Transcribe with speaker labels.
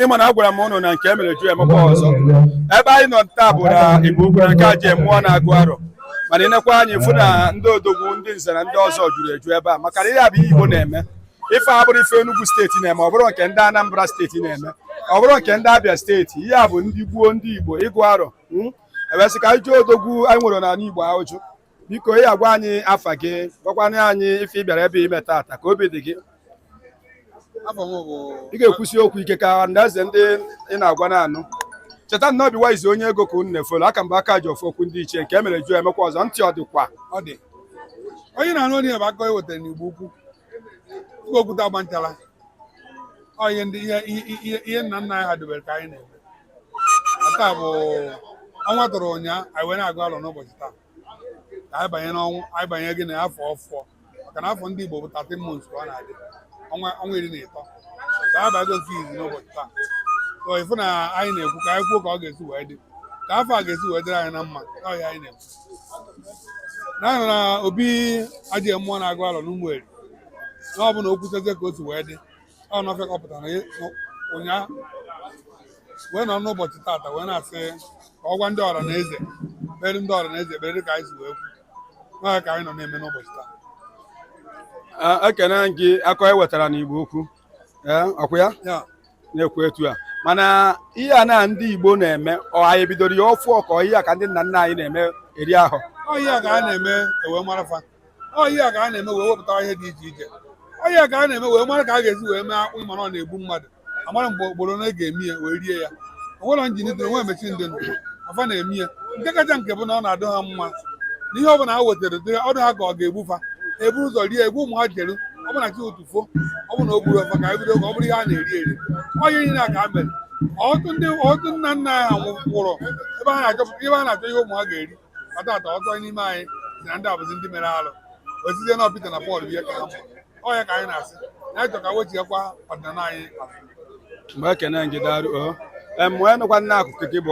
Speaker 1: ị ma na agwara m ụnụ na nke e mere ju emekwa ọzọ ebe anyị nọ taa bụ na igbo ukwu na nke ajị mmụọ na-agụ arọ mana ị nekwa anya ị fụ na ndị odogwu ndị nze na ndị ọzọ juru eju ebe a maka na ihe a bụ igbo na-eme ife abụrọ ife Enugu steeti na-eme ọ bụrọ nke ndị Anambra steeti na-eme ọ bụrọ nke ndị Abia steeti ihe a bụ ndị gboo ndị Igbo ịgụ arọ hmm? e wee sị ka anyị jụọ odogwu anyị nwere n'ala Igbo ahụjụ biko ị agwa anyị afa gị gwakwanụ anyị ife ị bịara ebe a ime taata ka obi dị gị ị ga-ekwusi okwu ike ka ndị eze ndị ị na-agwa na-anụ cheta na obi waizi onye ego ka unu na-efolo aka mgbe aka ji ofu okwu ndị ichie nke e mere ju emekwa ọzọ ntị ọ dịkwa ọ dị onye na-anụ onye bụ akụ e wetara n'igbo ukwu ukwu okwute agba nchara ọ ihe ndị ihe ihe ihe nna nna anyị ha dobere ka anyị na-eme taa bụ ọnwa tụrụ ụnyaa anyị wee na-agụ alọ n'ụbọchị taa ka anyị banye n'ọnwa anyị banyego na afọ ọfụọ maka na afọ ndị Igbo bụ 13 months ka ọ na-adị ọnwa ọnwa iri na ịtọ ka anyị bago nke izi n'ụbọchị taa so ị fụ na anyị na-ekwu ka anyị kwuo ka ọ ga-esi wee dị ka afọ a ga-esi wee dịrị anyị na mma ọ ya anyị na-ekwu naanị na obi ajị mmụọ na-agụ alọ n'ụmụ eri na ọ bụ na okwuchazie ka o si wee dị ọ nọfe ka ọ pụtara ị- nọ- ụnyaahụ wee nọ n'ụbọchị tata wee na-asị ka ọ gwa ndị ọra na eze kpere ndị ọra na eze ekpere dị ka anyị si wee kwu na ọ ya ka anyị nọ na-eme n'ụbọchị taa Ah, ekene m gị akụ e wetara n'igbo ukwu ee ọ kwa ya ya na-ekwu etu a mana ihe a na ndị igbo na-eme ọ anyị ebidorọ ya ọfụọ ọ kwa ihe a ka ndị nna nna anyị na-eme eri ahụ ọ ya ka a na-eme ewee mara fa ọ ya ka a na-eme wee wepụta ihe dị iche iche ọ ya ka a na-eme wee mara ka a ga-esi wee mee akpụ ị mara ọ na-egbu mmadụ amara mgbe ogboro na ga-eme ya wee rie ya o nwere njin dị nwe emechi ndị nna fa na-eme ya nke kacha nke bụ na ọ na-adị ha mma na ihe ọbụla ha wetara dị ọ dị ha ka ọ ga-egbu fa e buru ụzọ rie egbu ụmụ ha erie ọbụna chi ụtụtụ fo ọbụna o gburọ fa ka e bido ka ọ bụrụ ihe a na-eri eri ọ ihe niile a ka e mere ọtụtụ ndị ọtụtụ nna nna ha nwụrụ ebe ha na-achọpụta ebe ha na-achọ ihe ụmụ ha ga-eri ọ taata ọtụtụ n'ime anyị sị na ndị a bụzi ndị mere alụ o site na Pita na Pọl ihe ka ha mụrụ ọ ya ka anyị na-asị na anyị chọ ka e wechighakwa ọdịnala anyị mgbe ekene m gị daarụ o mgbe nụkwa nna akụkụ gị bụ